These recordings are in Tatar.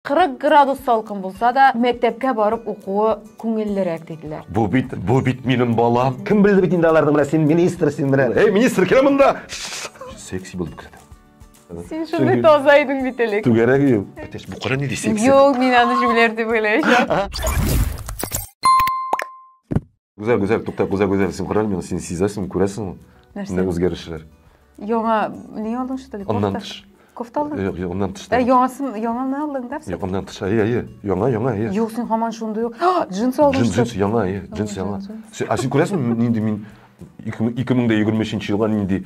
40 градус салкын булса да, мәктәпкә барып укуы күңеллерәк диделәр. Бу бит, бу бит минем балам. Кем белде бит инде аларны, менә син министр, син менә. Эй, министр, килә монда. Секси булып күрсәтә. Син шундый таза идең бит элек. Түгәрәк идем. Әтәч, бу кара нинди секси? Юк, мин аны җүләр дип уйлаячак. гүзәл гүзәл туктап гүзәл гүзәл син күрә алмыйсың син сизәсеңме күрәсеңме нәрсә үзгәрешләр яңа не алдың что ли аннан тыш кофта алдың юк юк аннан тыш яңасын яңаны алдың да юк аннан тыш әйе әйе яңа яңа әйе юк син һаман шундый ук джинсы алдың джинс джинс яңа әйе джинс яңа ә син күрәсеңме нинди мин ике меңдә егерме өченче елга нинди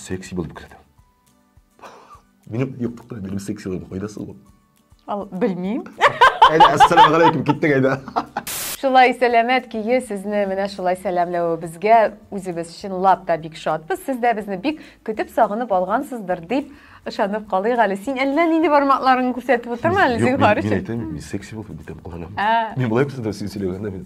Секси булып кердем. Минем юктыкта минем секси булып кайдасы ул? Ал, белмим. Әйдә, ассаламу алейкум, киттек әйдә. Шулай сәламәт көе сезне менә шулай сәламләвебезгә үзебез чынлап та бик шатбыз. Сез дә безне бик көтеп сагынып алгансыздыр дип ышанып калыйк әле. Син әллә нинди бармакларыңны күрсәтеп утырма әле, зинһар өчен. Мин әйтәм, мин секси булып битем кыланам. Мин болай күрсәтәм, син сөйләгәндә мин.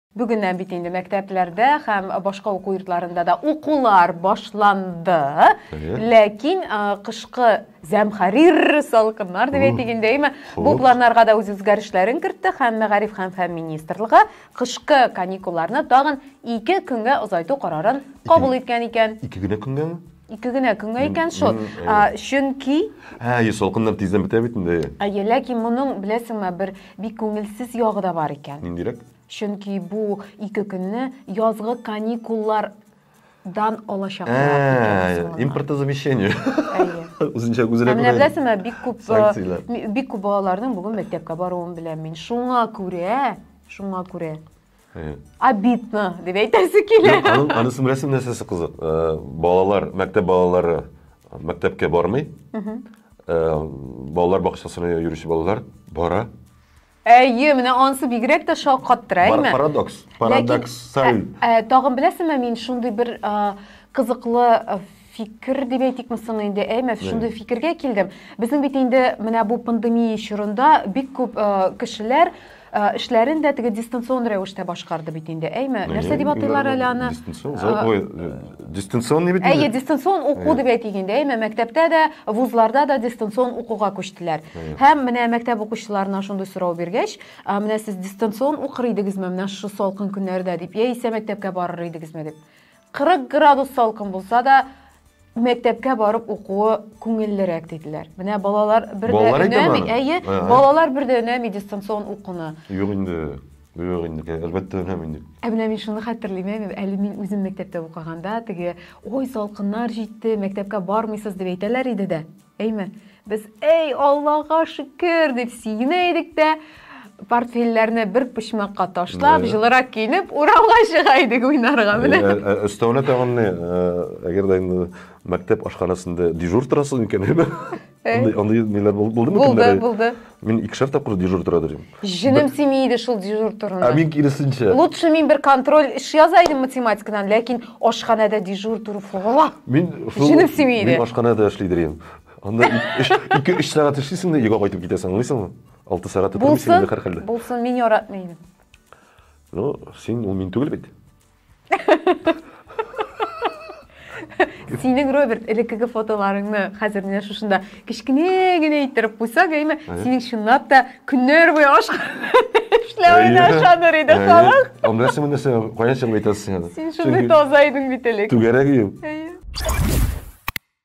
Бүгеннән бит инде мәктәпләрдә һәм башка уку йортларында да укулар башланды. Ләкин кышкы зәмхарир салкыннар дип әйтик инде, әйме? Бу планнарга да үз үзгәрешләрен кертте һәм Мәгариф һәм фән министрлыгы кышкы каникулларны тагын ике көнгә озайту карарын кабул иткән икән. Ике генә көнгәме? Ике генә көнгә икән шул. Чөнки Ә, йөз салкыннар тиздән бетә бит инде. Әйе, ләкин моның, беләсеңме, бер бик күңелсез ягы да бар икән. Ниндирәк? Чөнки бу ике көнне язгы каникуллар дан алачаклар. Импортозамещение. Үзенчә үзенә. Менә беләсеңме, бик күп бик күп балаларның бүген мәктәпкә баруын беләм мин. Шуңа күрә, шуңа күрә. обидно дип әйтәсе килә аның анысының рәсем нәрсәсе кызык э, балалар мәктәп балалары мәктәпкә бармый э, балалар бакчасына йөрүче балалар бара әйе менә анысы бигрәк тә шаккаттыра әйме парадокс парадоксаль ә, ә, тагын беләсеңме мин шундый бер кызыклы фикер дип әйтикме соң инде әй менә шундый фикергә килдем безнең бит инде менә бу пандемия чорында бик күп э, кешеләр Э, эшләрен дә теге дистанцион рәвештә башкарды бит инде әйме нәрсә дип атыйлар әле аны дистанцион бит әйе дистанцион уку дип әйтик инде әйме мәктәптә дә вузларда да дистанцион укуга күчтеләр һәм менә мәктәп укучыларына шундый сорау биргәч менә сез дистанцион укыр идегезме менә шушы салкын көннәрдә дип яисә мәктәпкә барыр идегезме дип 40 градус салкын булса да, мәктәпкә барып укуы күңеллерәк диделәр. Менә балалар бер дә балалар өнәми, әйе, балалар бер дә өнәми дистанцион укуны. Юк инде, юк инде, әлбәттә өнәми инде. Ә менә мин шуны хәтерлим, әле мин үзем мәктәптә укыганда, теге, ой, салкыннар җитте, мәктәпкә бармыйсыз дип әйтәләр иде дә. Әйме, без эй Аллага шөкер дип сөенә идек тә, портфельләрне бер почмакка ташлап, җылырак киенеп, урамга чыга идек уйнарга. Менә. Өстәвенә тагын не, әгәр дә инде мәктәп ашханәсендә дежур торасың икән, әйме? Андый ниләр булдымы? Булды, булды. Мин икешәр тапкыр дежур тора торыйм. Җенем сими иде шул дежур турында. Ә мин киресенчә. Лучше мин бер контроль эш яза идем математикадан, ләкин ашханәдә дежур тору фугала. Мин шул Җенем сими иде. Мин ашханәдә эшли торыйм. Анда 2-3 сәгать эшлисең дә йога кайтып китәсең, аңлыйсыңмы? 6 сәгать тормыйсың инде һәрхәлдә. Булсын, мин яратмый идем. Ну, син ул мин түгел бит. Синең Роберт элеккеге фотоларыңны хәзер менә шушында кечкенә генә иттереп куйсак, әйме, синең чынлап та көннәр буе аш эшләвенә ышаныр иде халык. Аннасы монысы каян чыгып әйтәсең аны? Син шундый таза идең бит элек. Түгәрәк идем.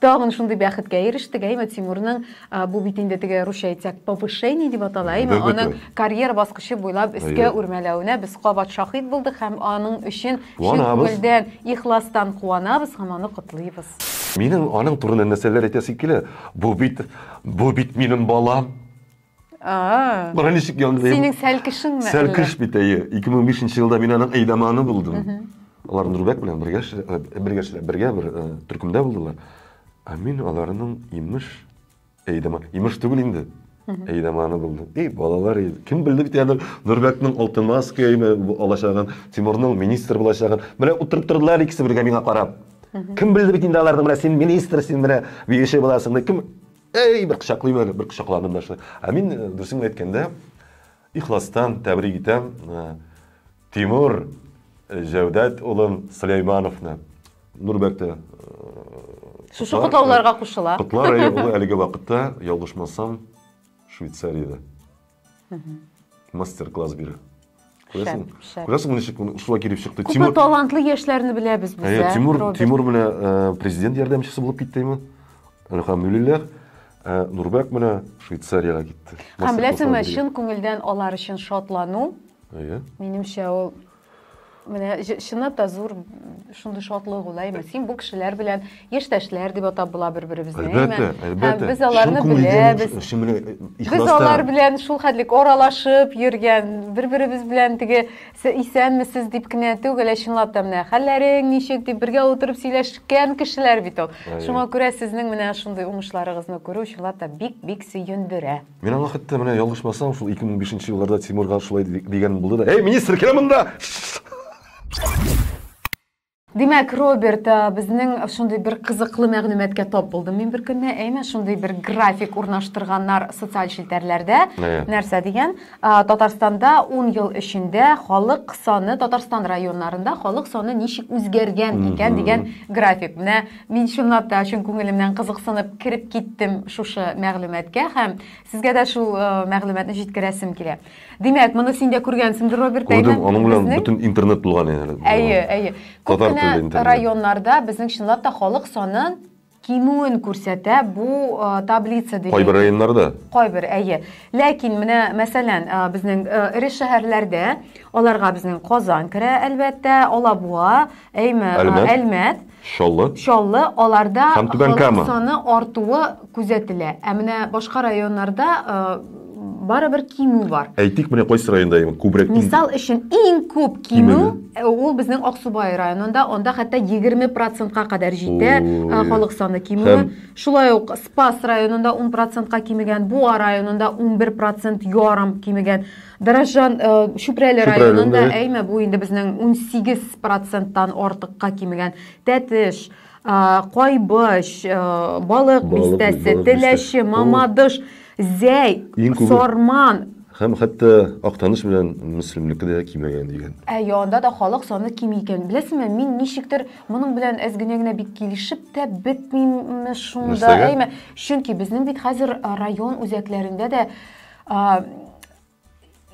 Тагын шундый бәхеткә ирештек, әйме, Тимурның, а, бу бит инде теге русча әйтсәк, повышение дип атала, әйме, Әлбәттә. аның карьера баскычы буйлап өскә Әйе. үрмәләвенә без кабат шаһит булдык һәм аның өчен чын Куанабыз. күңелдән, ихластан куанабыз һәм аны котлыйбыз. Минем аның турында нәрсәләр әйтәсем килә, бу бит, бу бит минем балам! А. Бара ничек яңгырый? Синең сәлкешеңме? Сәлкеш бит әйе. 2005 елда мин аның әйдаманы булдым. Алар Нурбәк белән бергә бергә бергә бер төркемдә булдылар. Ә мин аларның имеш әйдама, имеш түгел инде. Әйдаманы булдым. И балалар, кем белде бит аны Нурбәкнең алтын маска алачагын, Тимурның министр булачагын. Менә утырып тордылар икесе бергә миңа карап. Кем белде бит инде аларның менә син министр, син менә биюче буласың. Кем Әй, бер кочаклыйм әле, бер кочакладым да шулай. Ә мин, э, дөресен генә әйткәндә, ихластан тәбрик итәм э, Тимур э, Җәүдәт улын Сөләймановны. Нурбәктә э, Шушы котлар, котлауларга кушыла. Котлар, әйе, ул әлеге вакытта, ялгышмасам, Швейцариядә. мастер класс бирә күрәсең күрәсең ничек шулай килеп чыкты күпме талантлы яшьләрне беләбез без ә тимур тимур менә э, президент ярдәмчесе булып китте име әлхамдулиллах ә э, нурбәк менә швейцариягә китте һәм беләсеңме чын күңелдән алар өчен шатлану әйе минемчә ул Менә чынлап та зур шундый шатлык ул, әйме? Син бу кешеләр белән яшьтәшләр дип атап була бер-беребезне, әйме? Әлбәттә, әлбәттә. Без аларны беләбез. Без алар белән шул хәтлек аралашып йөргән, бер-беребез белән теге исәнмесез дип кенә түгел, ә чынлап та менә хәлләрең ничек дип бергә утырып сөйләшкән кешеләр бит ул. Шуңа күрә сезнең менә шундый уңышларыгызны күрү чынлап та бик-бик сөендерә. Мин аңа хәтта менә ялгышмасам, шул 2005 елларда Тимурга шулай дигән булды да. Эй, министр, килә монда! Димәк, Роберт, безнең шундый бер кызыклы мәгълүматка тап булдым мин бер көнне. Әйме, шундый бер график урнаштырганнар социаль челтәрләрдә. Нәрсә дигән? Татарстанда 10 ел эчендә халык саны Татарстан районнарында халык саны ничек үзгәргән икән дигән график. Менә Мин чынлап та чын күңелемнән кызыксынып кереп киттем шушы мәгълүматкә һәм сезгә дә шул э, мәгълүматны җиткерәсем килә. Димәк, моны син дә күргәнсеңдер, Роберт Күрдем, аның белән бөтен интернет булган инде. Әйе, әйе. Күп кенә районнарда безнең чынлап та халык саны кимүен күрсәтә бу э, таблица дигән. Кайбер районнарда. Кайбер, әйе. Ләкин менә, мәсәлән, э, безнең э, эре шәһәрләрдә, аларга безнең Казан керә, әлбәттә, Алабуга, әйме, Әлмәт. Чаллы. Чаллы, аларда Һәм Түбән халык Кама. саны артуы күзәтелә. Ә менә башка районнарда э, барыбер кимү бар. Әйтик, менә кайсы районда именно күбрәк иң- Мисал өчен, иң күп кимү Кимү. э, ул безнең Аксубай районында, анда хәтта 20 процентка кадәр җитә Ой. э, халык саны кимүе. Һәм- Шулай ук Спас районында 10 процентка кимегән, Буа районында 11 процент ярым кимегән. Даражан Чүпрәле районында әйме бу инде безнең 18 проценттан артыкка кимегән Тәтеш, Кайбыч, Балык бистәсе, Теләче, Мамадыш, Зәй, Сарман һәм хәтта Актаныш белән Мөслимнеке дә кимегән дигән. Әйе, анда да халык саны кими икән. Беләсеңме, мин ничектер моның белән әз генә генә бик килешеп тә бетмиме шунда, әйме? Чөнки безнең бит хәзер район үзәкләрендә дә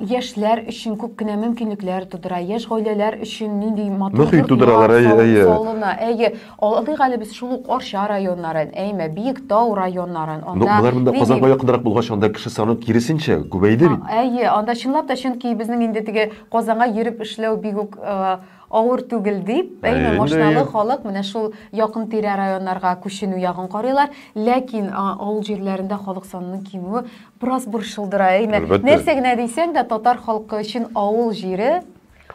яшьләр өчен күп кенә мөмкинлекләр тудыра, яшь гаиләләр өчен нинди матур Мөхит тудыралар, әйе, әйе. Салына, әйе. Алдыйк әле без шул ук Арча районнарын, әйме, Биектау районнарын. Анда Но болар монда Казанга якынрак булгач, анда кеше саны киресенчә күбәйде бит. Әйе, анда чынлап та, чөнки безнең инде теге Казанга йөреп эшләү бигүк Авыр түгел дип, Әйе, әйме, инде, машиналы әйе. халык менә шул якын-тирә районнарга күченү ягын карыйлар. Ләкин а, авыл җирләрендә халык санының кимүе бераз борчылдыра, әйме? Әлбәттә. Нәрсә генә дисәң дә, татар халкы өчен авыл җире,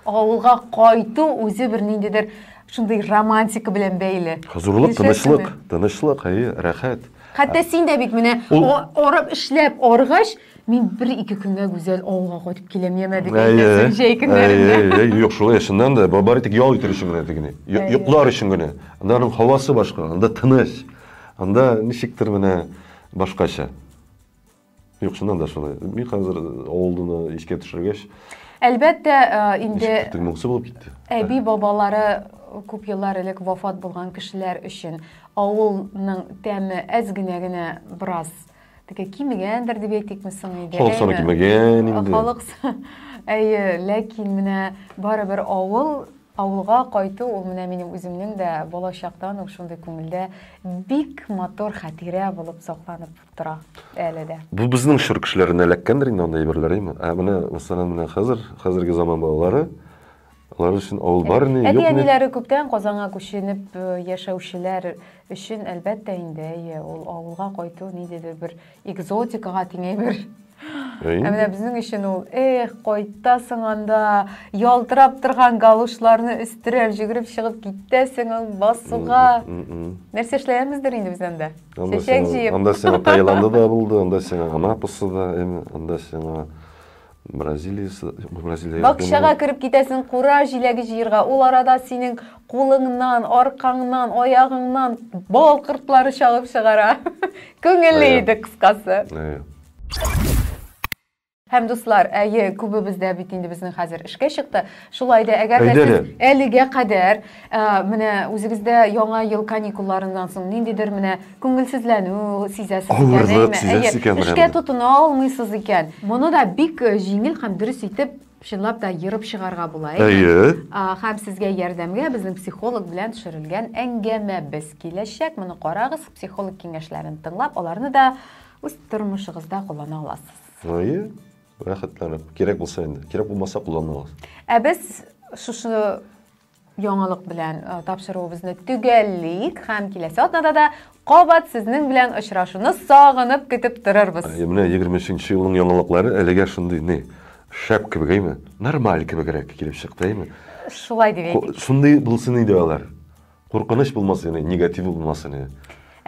авылга кайту үзе бер ниндидер шундый романтика белән бәйле. Хозурлык, Килешәсеңме? тынычлык, тынычлык, әйе, рәхәт. Хәтта син дә бит менә Ул- а- арып эшләп аргач, Мин бер-ике көнгә гүзәл авылга кайтып киләм, яме дип әйтәсең җәй көннәрендә. Юк, шулай, чыннан да, бары тик ял итәр өчен генә дип генә, йоклар өчен генә. Анда аның һавасы башка, анда тыныч, анда ничектер менә башкача. Юк, чыннан да шулай. Мин хәзер авылны искә төшергәч, Әлбәттә, инде моңсу булып китте. Әби бабалары күп еллар элек вафат булган кешеләр өчен авылның тәме әз генә генә бераз Теге кимегәндер дип әйтикме соң инде. Халык саны кимегән инде. Халык әйе, ләкин менә барыбер авыл авылга кайту ул менә минем үземнең дә бала чактан ук шундый күңелдә бик матур хәтирә булып сакланып тора әле дә. Бу безнең чор кешеләренә эләккәндер инде андый әйберләр, әйме? Ә менә мәсәлән менә хәзер, хәзерге заман балалары Алар өчен авыл бар ни, юк ни. Әти-әниләре күптән Казанга күченеп э, яшәүчеләр өчен, әлбәттә инде, әйе, ул авылга кайту ниндидер бер экзотикага тиңәй бер. Ә менә безнең өчен ул, эх, кайтасың анда, ялтырап торган галушларны өстерәп җөгереп чыгып китәсең ул басуга. Нәрсә эшләгәнбездер инде без анда? Чәчәк җыеп. Анда сиңа Таиланда да булды, анда сиңа Анапасы да, анда сиңа Бразилия... Бакчага кереп китәсең, кура җиләге җыерга. Ул арада синең кулыңнан, аркаңнан, аягыңнан бал кортлары чагып чыгара. Күңелле иде, кыскасы. Һәм, дуслар, әйе, күбебез дә бит инде безнең хәзер эшкә чыкты. Шулай да, әгәр дә сез әлегә кадәр менә үзегездә яңа ел каникулларыннан соң ниндидер менә күңелсезләнү сизәсез икән, авырлык сизәсез икән, эшкә тотына алмыйсыз икән, моны да бик э, җиңел һәм дөрес итеп чынлап та ерып чыгарга була. Әйе. Һәм сезгә ярдәмгә безнең психолог белән төшерелгән әңгәмәбез киләчәк. Моны карагыз, психолог киңәшләрен тыңлап, аларны да үз тормышыгызда куллана аласыз. Әйе. Рәхәтләнеп. Кирәк булса инде. Кирәк булмаса кулланмагыз. Ә без шушы яңалык белән э, тапшыруыбызны төгәллик һәм киләсе атнада да кабат сезнең белән очрашуны сагынып көтеп торырбыз. Ә, Менә 23 елның яңалыклары әлегә шундый ни шәп кебек әйме? Нормаль кебегрәк килеп чыкты әйме? Шулай дип әйтик. Шундый булсын иде алар. Куркыныч булмас яни негатив булмас яни.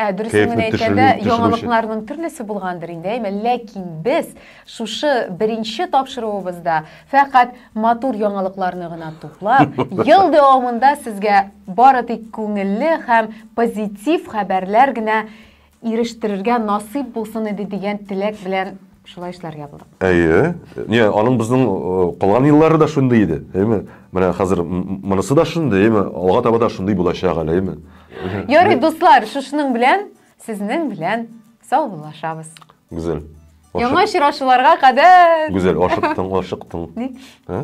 Ә дөресен генә әйткәндә, яңалыкларның төрлесе булгандыр инде, әйме, ләкин без шушы беренче тапшыруыбызда фәкать матур яңалыкларны гына туплап, ел дәвамында сезгә бары тик күңелле һәм позитив хәбәрләр генә ирештерергә насыйп булсын иде дигән теләк белән шулай эшләргә булдык. Әйе. Не, аның безнең э, калган еллары да шундый иде, әйме? Менә хәзер монысы да шундый, әйме? Алга таба да шундый булачак әле, әйме? Ярый, дуслар, шушының белән сезнең белән саубуллашабыз. Гүзәл. Яңа очрашуларга кадәр. Гүзәл, ашыктың, ашыктың. Ник? Ә?